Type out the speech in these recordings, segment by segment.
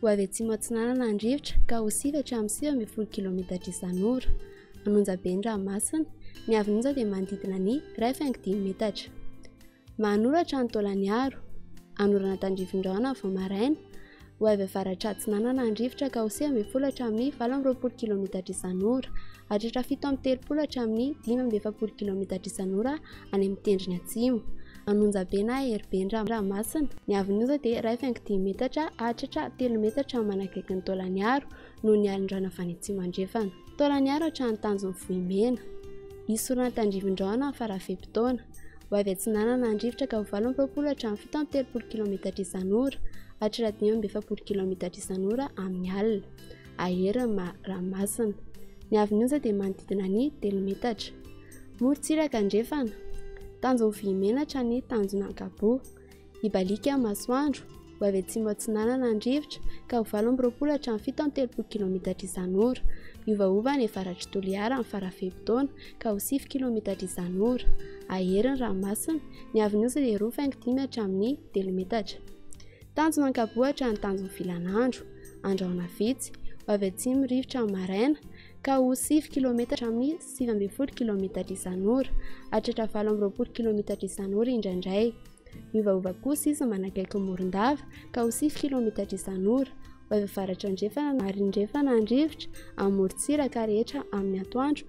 ho avy atsimo atsinanana ny rivotra ka ho sivy hatramin'ny sivy ambin'ny folo kilaometatra isan'ora. Manonja be ny ranomasina. Ny havin'onja dia manodidina ny iray faingo dimy metatra. Manoratra ny taolan'ny aro. Hanorana tandrifin'ny rahona vao maraina. Ho avy avaratra atsinanana ny rivotra ka ho sivy ambin'ny folo hatramin'ny valo amby roapolo kilaometatra isan'ora. Hahatratra fito amby telopolo hatramin'ny dimy amby efapolo kilaometatra isan'ora any amin'ny tendrony atsimo. Anonjabe na Heriben-dranomasina. Ny haavon'ny onja dia iray faingo dimy metatra hahatratra telo metatra manakaiky ny taolan'Iaro noho ny alin-drano avy any atsimo-andrefana. Taolan'Iaro hatrany tanjon'ny Vohimena. Hisy sorona tandrivin-drano amin'ny farafe-potoana. Ho avy atsinanana any rivotra ka ho valo amby roapolo hatramin'ny fito amby telopolo kilaometatra isan'ora hatratra dimy amby efapolo kilaometatra isan'ora amin'ny alina. Aera ma Ramasina. Ny avenue-nja dia manodidina ny telo metatra. Morontsiraka andrefana. Tanjon'ny vohimenatra ny tanjona ankapobe. Hibaliaka ny masoandro, ho avy atsimo atsinanana ny rivotra, ka ho valo amby roapolo hatramin'ny fito amby telopolo kilometatra isan'ora. Miovaova any avaratr'i Toliara amin'ny fara-fe-potoana, ka ho sivy kilometatra isan'ora. Aera ny ranomasina. Ny avenue-nja dia roa faingo dimy hatramin'ny telo metatra. Tanjona ankabohatra ny tanjon'ny filan'andro, andrahona vitsy, ho avy atsimo rivotra amin'ny maraina, ka ho sivy kilometatra amin'ny sivy ambin'ny folo kilometatra isan'ora, hahatratra valo amby roapolo kilometatra isan'ora indraindray. Miovaova kosa izy manakaiky ny morondava, ka ho sivy kilometatra isan'ora, ho avy avaratra andrefana na andrefana ny rivotra, amin'ny morontsiraka rehetra amin'ny atoandro,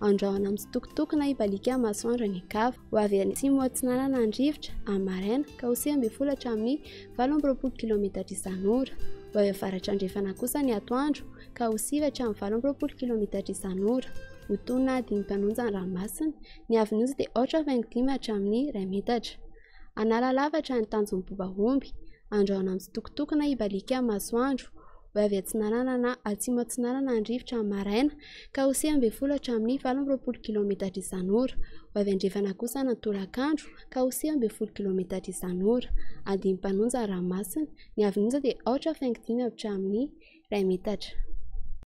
Andrahona mitsitokotokona hibaliaka amin'ny masoandro any Ankava. Ho avy any atsimo atsinanana ny rivotra, amin'ny maraina, ka ho seham-be folo hatramin'ny valo amby roapolo kilaometatra isan'ora. Ho avy avaratra andrefana kosa ny atoandro, ka ho sivy hatramin'ny valo amby roapolo kilaometatra isan'ora. Ho tony na hadino mpanonja ny ranomasina. Ny havin'oza dia aotra faingo dimy hatramin'ny iray metatra. Analalafatra ny tanjon'ny boba omby, andrahona mitsitokotokona hibaliaka ny masoandro, ho avy atsinanana na atsimo atsinanana ny rivotra ny maraina, ka ho sivy ambin'ny folo hatramin'ny valo amby roapolo kilaometatra isan'ora, ho avy andrefana kosa ny tolakandro, ka ho sivy ambin'ny folo kilaometatra isan'ora. Andiany mpanonja ny ranomasina, ny havin'onja dia aotra faingo dimy hatramin'ny iray metatra.